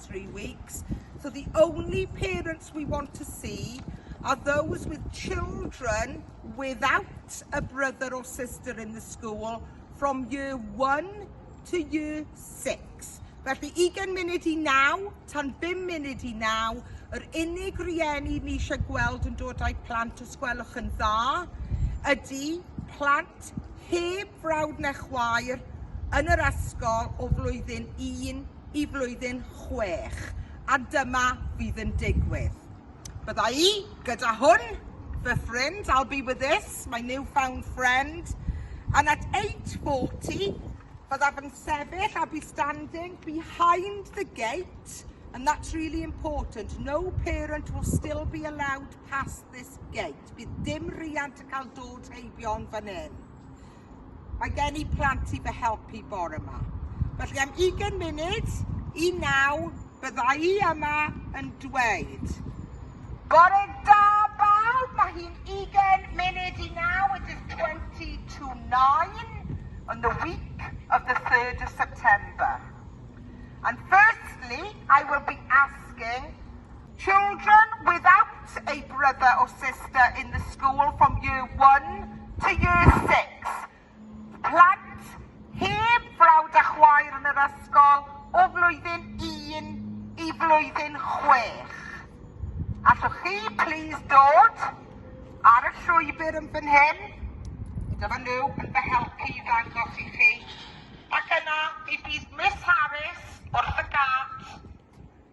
three weeks, so the only parents we want to see are those with children without a brother or sister in the school from year one to year six. Felly 20 munud i naw, tan 5 munud i naw, yr unig rieni ni eisiau gweld yn dod â'i plant os gwelwch yn dda ydy plant heb brawd na chwaer yn yr ysgol o flwyddyn un i flwyddyn chwech, a dyma fydd yn digwydd. Bydda i gyda hwn, fy ffrind, I'll be with this, my new-found friend, and at 8.40 byddaf yn sefyll, I'll be standing behind the gate, and that's really important, no parent will still be allowed past this gate. Bydd dim riant yn cael dod heibio yn fan hyn. Mae gen i plant i fy helpu bore yma. Felly am 20 munud i naw, bydda i yma yn dweud. Bore da bawb, mae hi'n 20 munud i naw, it is 20 to 9 on the week of the 3rd of September. And firstly, I will be asking Children without a brother or sister in the school from year one to year six, plant heb frawd a chwaer yn yr ysgol o flwyddyn un i flwyddyn chwech. Allwch chi plîs dod ar y llwybr yn fan hyn? Dyma nhw yn fy helpu i ddangos i chi. Ac yna, mi bydd Miss Harris wrth y gât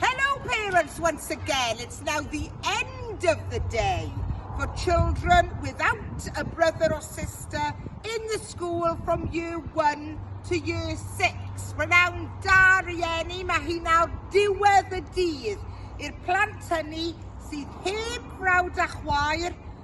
Hello parents once again, it's now the end of the day for children without a brother or sister in the school from year one to year six. Renowned da rieni, mae hi nawr diwedd y dydd i'r plant hynny sydd heb frawd a chwaer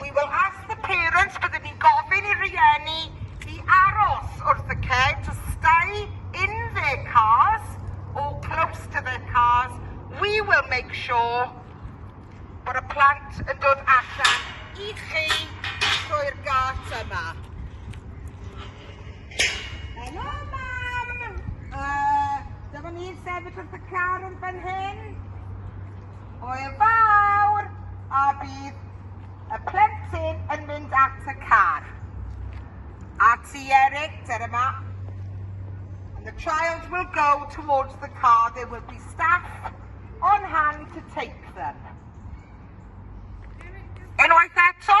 We will ask the parents, byddwn ni'n gofyn i rieni i aros wrth y ceg, to stay in their cars or close to their cars. We will make sure bod y plant yn dod allan i chi drwy'r gât yma. Hello, mam! Uh, dyma ni'n sefyll wrth y car yn fan hyn. Hwyl fawr! A bydd y plentyn yn mynd at y car. A ti, Eric, dyr yma. And the child will go towards the car. There will be staff on hand to take them. Unwaith eto.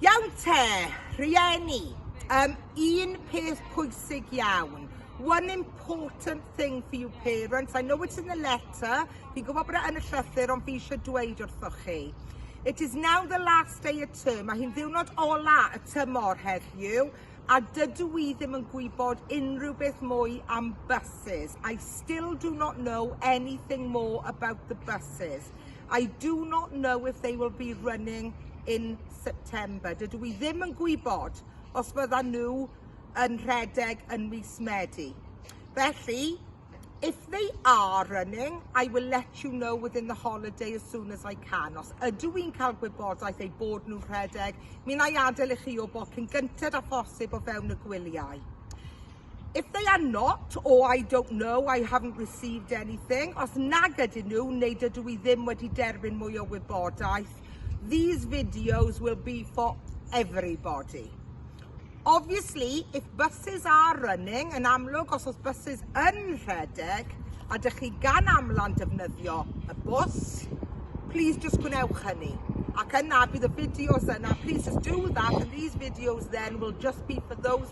Iawn te, rhieni, um, un peth pwysig iawn. One important thing for you parents, I know it's in the letter, fi'n gwybod bod e yn y llythyr ond fi eisiau dweud wrthoch chi. It is now the last day of term, mae hi'n ddiwrnod ola y tymor heddiw, a dydw i ddim yn gwybod unrhyw beth mwy am buses. I still do not know anything more about the buses. I do not know if they will be running in September. Dydw i ddim yn gwybod os bydda nhw yn rhedeg yn mis Medi. Felly, If they are running, I will let you know within the holiday as soon as I can. Os ydw i'n cael gwybodaeth ei bod nhw'n rhedeg, mi na i adael i chi o bod cyn gynted â phosib o fewn y gwyliau. If they are not, or I don't know, I haven't received anything, os nag ydyn nhw neu dydw i ddim wedi derbyn mwy o wybodaeth, these videos will be for everybody. Obviously, if buses are running, yn amlwg os oes buses yn rhedeg a dych chi gan amlan defnyddio y bws, please just gwnewch hynny. Ac yna bydd y fideos yna, please just do that and these videos then will just be for those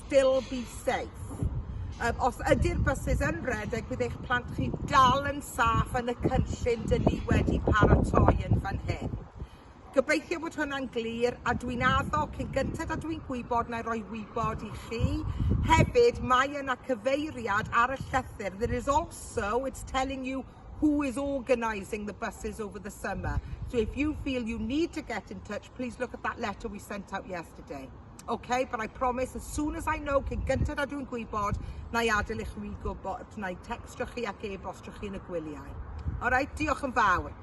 still be safe. Um, os ydy'r buses yn redeg, bydd eich plant chi dal yn saff yn y cynllun dyn ni wedi paratoi yn fan hyn. Gobeithio bod hwnna'n glir a dwi'n addo cyn gyntaf a dwi'n gwybod na roi wybod i chi. Hefyd, mae yna cyfeiriad ar y llythyr. There is also, it's telling you who is organising the buses over the summer. So if you feel you need to get in touch, please look at that letter we sent out yesterday. Okay, but I promise as soon as I know, cyn gyntaf a dwi'n gwybod, na i adael i chwi gwybod, na i textio chi ac e-bostio chi yn y gwyliau. Alright, diolch yn fawr.